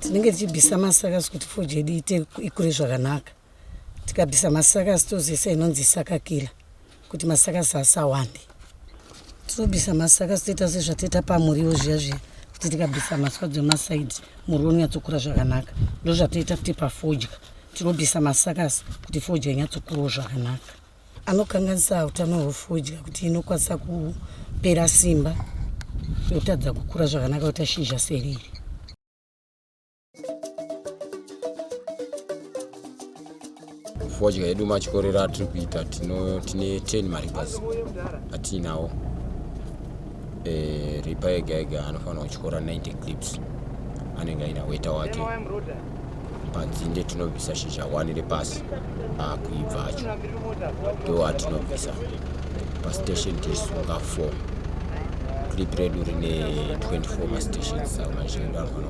tinenge tichibvisa masakasi kuti foji yedu iite ikure zvakanaka tikabvisa masakasi tozoisa inonzi sakakila kuti masakasi asawande tinobisa masakasi toita sezvatoita pamuriwo zviya zviya kuti tikabisa maswadzo emasaidi muriwo unonyatsokura zvakanaka ndozvatoita kuti pafodya tinobisa masakasi kuti fodya inyatsokurawo zvakanaka anokanganisa utano hwefodya kuti inokwanisa kupera simba yotadza kukura zvakanaka yotashizha seriri fodya yedu machikorero atiri kuita tine 10 maripas atiinawo eh, ripa yega yega anofanira kutyora 90 clips anenge aina weta wake padzinde tinobvisa shizha wani repasi akuibva acho ndo atinobvisa pastation tirisunga 4 clip redu rine 24 mastations saka mazhinji anofana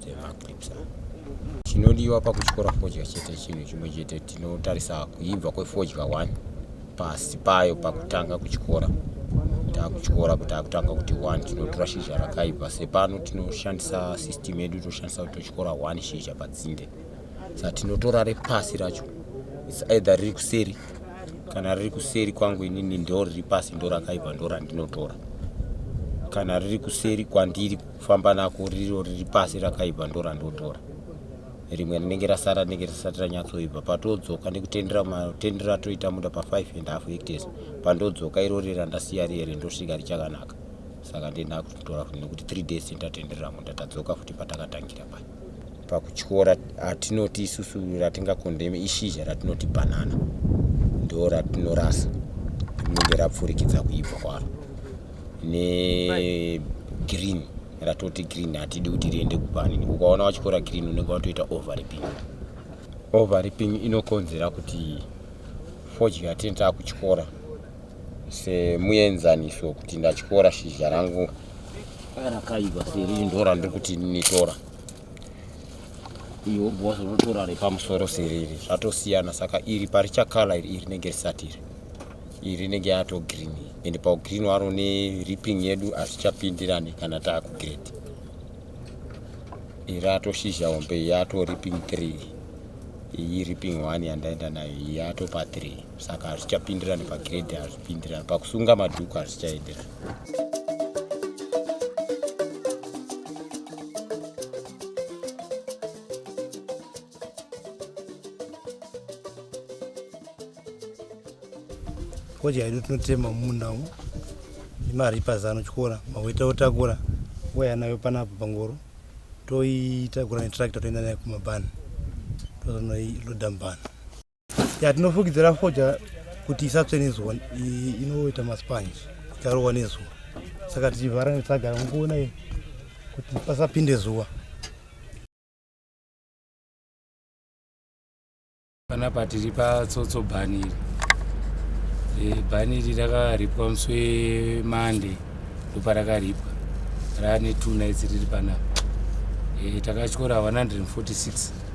dzemakwitsa chinodiwa pakutyora fodya chete chinhu chimwe chete tinotarisa kuibva kwefodya 1 pasi payo pakutanga kutyora takutyora kuti akutanga kuti 1 tinotora shizha rakaibva sepano tinoshandisa system yedu toshandisa kuti totyora 1 shizha padzinde sa tinotora repasi racho its either riri kuseri kana riri kuseri kwangu inini ndo riri pasi ndo rakaibva ndo randinotora kana riri kuseri kwandiri famba nako riro riri pasi rakaipa ndo randotora rimwe rinenge rasara rinenge risati ranyatsoibva patodzoka ndikutendera matendero atoita muda pa 5 and half hectares pandodzoka iro rira ndasiya riere ndosvika richakanaka saka ndindakutora futi nekuti three days ndatatenderera munda tadzoka futi patakatangira paya pakutyora atinoti isusu ratingakondeme ishizha ratinoti bhanana ndo ratinorasa rinenge rapfurikidza kuibva kwaro negreen ratoti green hatidi kuti riende kubani ukaona watyora green unenge watoita overriping overriping inokonzera kuti fodya yatinenge takutyora semuenzaniso kuti ndatyora shizha rangu rakaiva seriri ndora ndiri kuti nitora iyo bhosa unotora repamusoro seriri zvatosiyana saka iri parichakala iri iri nenge risati iri iri rinenge yato green and paugreen waro ne ripping yedu hazvichapindirani kana taakugred iri atoshizha hombe yato ripping three iyi ripping one yandaenda nayo iyi yato pa three saka hazvichapindirani pagrade hazvipindirani pakusunga madhuku hazvichaenderani fodya yedu tinotema mumunda umu imari pazano chikora maweta otakura waya nayo panapo pangoro toitakura netractor toenda nayo kumabhani tozonoiloda mubhani ya tinofukidzira fodya kuti isatsve nezuva inoita maspanji ikarohwa nezuva saka tichivhara netsagara mukuona i kuti pasapinde zuva panapa tiri patsotso bhani iri e, bhani iri rakaripwa musi wemande ndoparakaripwa rane two nights riri panapa e, takatyora 146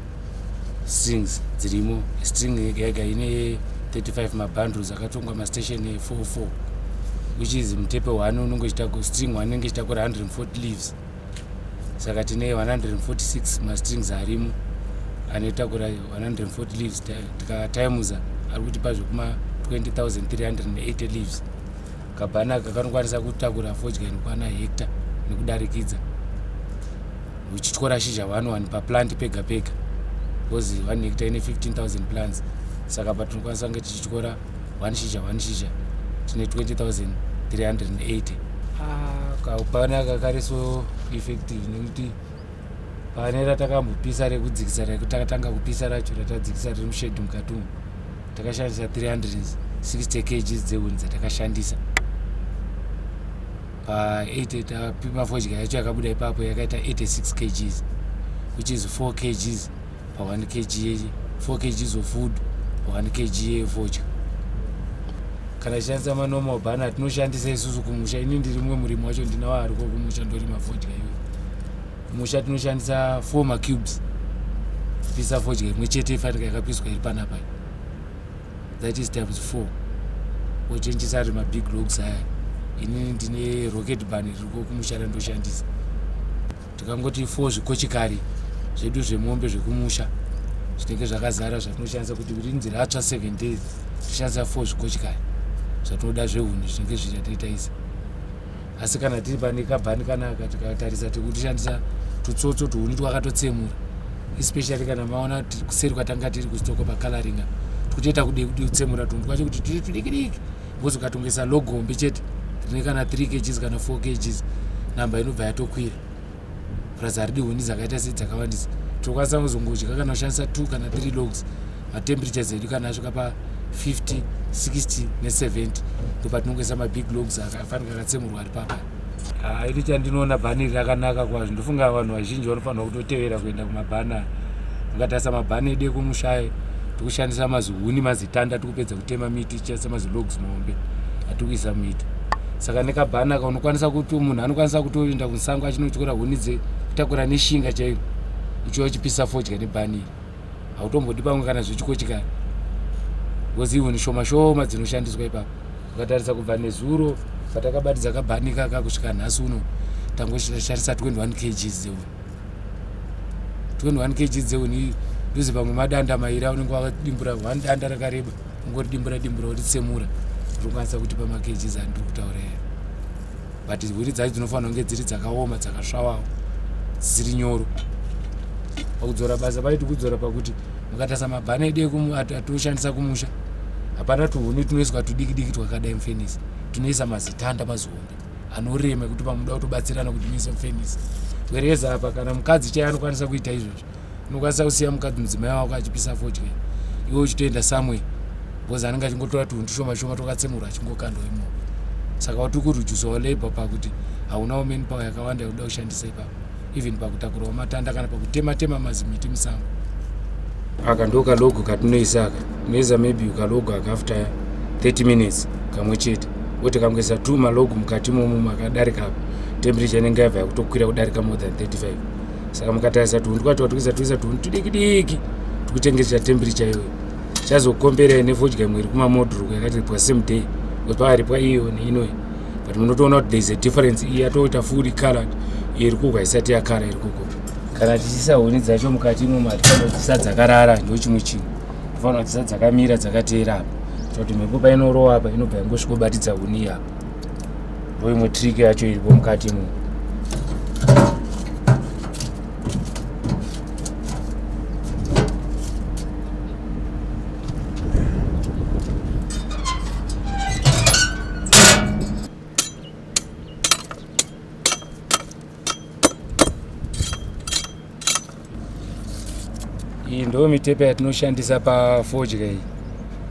strings dzirimo string yega yega ine 35 mabundles akatongwa mastation 44 which is mutepe one unenge uchitako string one inenge ichitakura 140 leaves saka tine 146 mastrings arimo anotakura 140 leaves tikatimusa ari kuti pa zvekuma 20380 leaves kabhana kakanokwanisa kutakura fodya inokwana hecta nekudarikidza uchityora shizha one one paplant pega pega because one hecta ine 15000 plants saka patinokwanisa kunge tichityora one shizha one shizha tine 20380 kaupana kakariso effective nekuti pane ratakambopisa rekudzikisa rekutakatanga kupisa racho ratadzikisa riri mushedhi mukati umu takashandisa 360 kgs dzehuni dzatakashandisa pa 8 tapipa fodya yacho yakabuda ipapo yakaita 86 kgs which is 4 kgs pa 1 kg 4 kgs of food pa 1 kg yefodya kana tichishandisa manormal bana atinoshandisa isusu kumusha ini ndiri mumwe murimi wacho ndinawo ariko kumusha ndorima fodya iyoyo kumusha tinoshandisa four macubes pisa fodya imwe chete ifanika yakapiswa iri panapa that is times four wochenjisa ari mabig logs aya inini ndine rocket ban ririko kumusha randoshandisa tikangoti four zvikochikari zvedu zvemombe zvekumusha zvinenge zvakazara zvatinoshandisa kuti rinzi ratsva seven days tishandisa four zvikochikari zvatinoda zvehuni zvinenge zviri ataita izi asi kana tiri pane kabhani kanaka tikatarisa tiri kutishandisa tutsotso tuhuni twakatotsemura especially kana maona kuseri kwatanga tiri kustoko pacoloringa tikutoita kudei kudei kutsemura tunhu twacho kuti tiri tudikidiki bcause ukatongesa logombe chete rine kana 3 kgs kana 4 kgs namba inobva yatokwira purazi haridi huni dzakaita sei dzakawandisa tinokwanisa kuzongodya kana ushandisa two kana three logs matemperature zedu kana asvika pa 50 60 ne70 ndopatinongoisa mabig logs afanira akatsemurwa ari papa ah, iri chandinoona bhani iri rakanaka kwazvo ndofunga vanhu vazhinji vanofanira kutotevera kuenda kumabhana ungatarisa mabhani edu ekumushaya tikushandisa mazihuni mazitanda tikupedza kutema miti tichaisa mazilogs muhombe atikuisa muita saka nekabhanaka unokwanisa kuti munhu anokwanisa kutoenda kunsango achinotyora huni dzekutakura neshinga chairo uchiwa uchipisa fodya nebhaniri hautombodi pamwe kana zvichikochikana bcause ihuni shoma shoma dzinoshandiswa ipapo ukatarisa kubva nezuro patakabatidza kabhanika ka kusvika nhasi uno tangosharisa 21 kg dzeuni 21 kg dzeuni ndozi pamwe madanda mairi aunenge wakadimbura one danda rakareba Ngori dimbura dimbura uri tsemura uri kwanisa kuti pa makeji za ndiri kutaura ya. But hwiri dzacho dzinofanira kunge dziri dzakaoma dzakasvawawo dziri nyoro. Pakudzora basa paiti kudzora pakuti mukatasa mabhana edu ekuatoshandisa kumusha hapana tuhuni tunoiswa tudiki diki twakadai mufenisi tunoisa mazitanda mazihombe anorema ekuti pamuda kutobatsirana kuti muise mufenisi wereza apa kana mukadzi chaiye anokwanisa kuita izvozvo unokwanisa kusiya mukadzi mudzimai wako achipisa fodya iwe uchitoenda samwe bcause anenge achingotora tunhu tushoma shoma twakatsemurwa achingokandwa imo saka wati kurujusa walabor pakuti haunawo man power yakawanda yokuda kushandisa ipapo even pakutakurawo matanda kana pakutema tema mazimiti musango aka ndo kalogo katinoisa aka tinoisa maybe kalogo aka after 30 minutes kamwe chete wote kangoisa two malogo mukati momumu akadarika apa temperature inenge yabva yakutokwira kudarika more than 35 saka mukatarisa tunhu twacho twatwisa twisa tunhu tudiki diki tikuchengetesa temperature iyoyo chazokomberai nefodya mwiri kumamodruku yakaripwa same day because pakaripwa iyo neinoyi but munotoona kuti thereis a difference iyi yatoita fully colored iyo iri kugwa isati yakara iri kuko kana tichiisa huni dzacho mukati imo mati fanira kudzisa dzakarara ndo chimwe chinhu tofanira kudzisa dzakamira dzakateera apa kuti mhepo painorowa apa inobva yangosvikobatidza huni iapa ndo imwe trick yacho iripo mukati mu iyi ndo mitepe yatinoshandisa pafodya iyi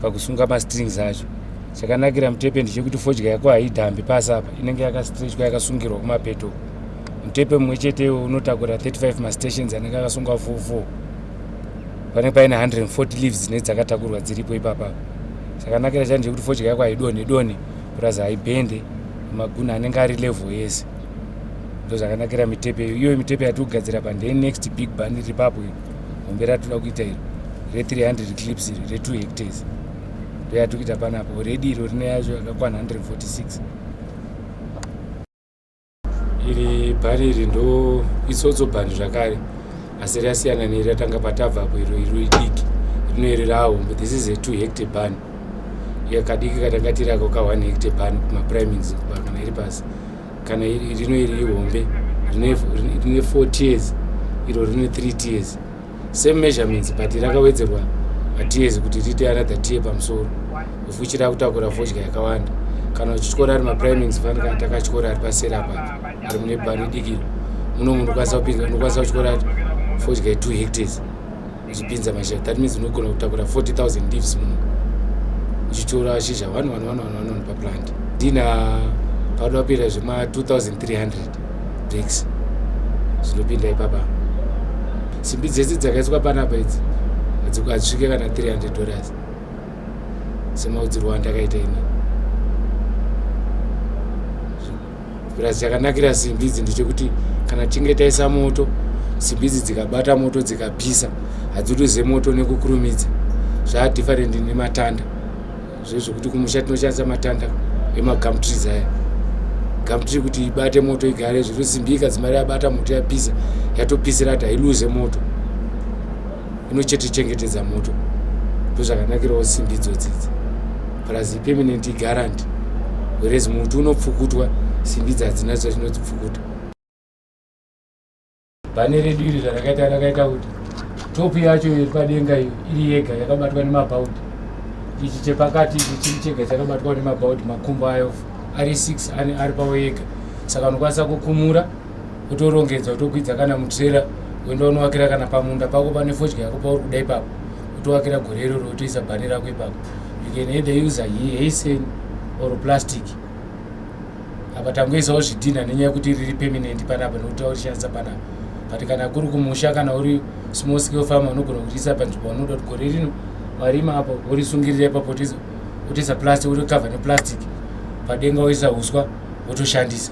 pakusunga mastrings acho chakanakira mutepe ndechekuti fodya yako haidhambi pasi apa inenge yakastrechwa yakasungirwa kumapeto mutepe mumwe chete unotakura 35 mastations anenge akasungwa 44 panenge paine 140 leaves dzine dzakatakurwa dziripo ipapa chakanakira chani chekuti fodya yako haidonhe donhe plus haibhende maguna anenge ari level yese ndozvakanakira mitepe iyo mitepe yatigadzira pa ndee next big ban iri papo iri hombe ratinoda kuita iri re 300 clips iri re 2 hectares ndoyatikuita panapo redi iro rine yacho yakakwana 146 iri bhani iri ndo isotso bhani zvakare asi rasiyana neiri ratanga patava apo iro iro idiki rino iri rahombe this is a 2 hectare bhani yakadiki katangatirako ka 1 hectare bhani kumaprimings kana iri pasi kana rino iri ihombe rine 4 tears iro rine 3 tears same measurements but rakawedzerwa matears kuti riite another tear pamusoro of which rakutakura fodya yakawanda kana uchityora ari maprimings fani kana takatyora ari pasera pa ari mune bani dikiro muno munhu ukwanisa kupinza unokwanisa kutyora fodya ye2 hectares uchipinza mashizha that means unogona kutakura 40000 leaves muno uchitora shizha 11111 paplant ndina pado apera zvema 2300 breaks zvinopinda ipapa simbi dzese dzakaiswa panapa idzi hadzikazvike kana 300 dollars semaudzirwa andakaita ini plus chakanakira simbi idzi ndechekuti kana tichinge taisa moto simbi idzi dzikabata moto dzikapisa hadziruze moto nekukurumidza zvaa different nematanda zvezvekuti kumusha tinoshandisa matanda emagamtrees aya gamtree kuti ibate moto igare zviri simbi ikadzimari yabata moto yapisa yatopisira hati hailuze moto inochetichengetedza moto ndozvakanakirawo simbi idzodzidzi plus ipermanent igarant whereas muti unopfukutwa simbi idzi hadzina zvazvinodzipfukuta bhane redu iri zvarakaita rakaita kuti topu yacho iri padenga iyo iri yega yakabatwa nemabhaudi ichi chepakati ichi chiri chega chakabatwa nemabhaudi makumbo ayo ari six ari pavo yega saka unokwanisa kukumura utorongedza utokwidza kana mutrera uenda unovakira kana pamunda pako pane fodya yako pauri kuda ipapo utovakira gore iroro utoisa bhani rako ipapo you can either use haisen or plastic apa tangoisawo zvidhinha nenyaya yekuti riri permanent panapa nekuti aurishandisa panapa but kana kuri kumusha kana uri small scale farmer unogona kuriisa panzvimbo unoda kuti gore rino warima apo worisungirira ipapo utoisa plastic wotocover neplastic padenga woisa uswa wotoshandisa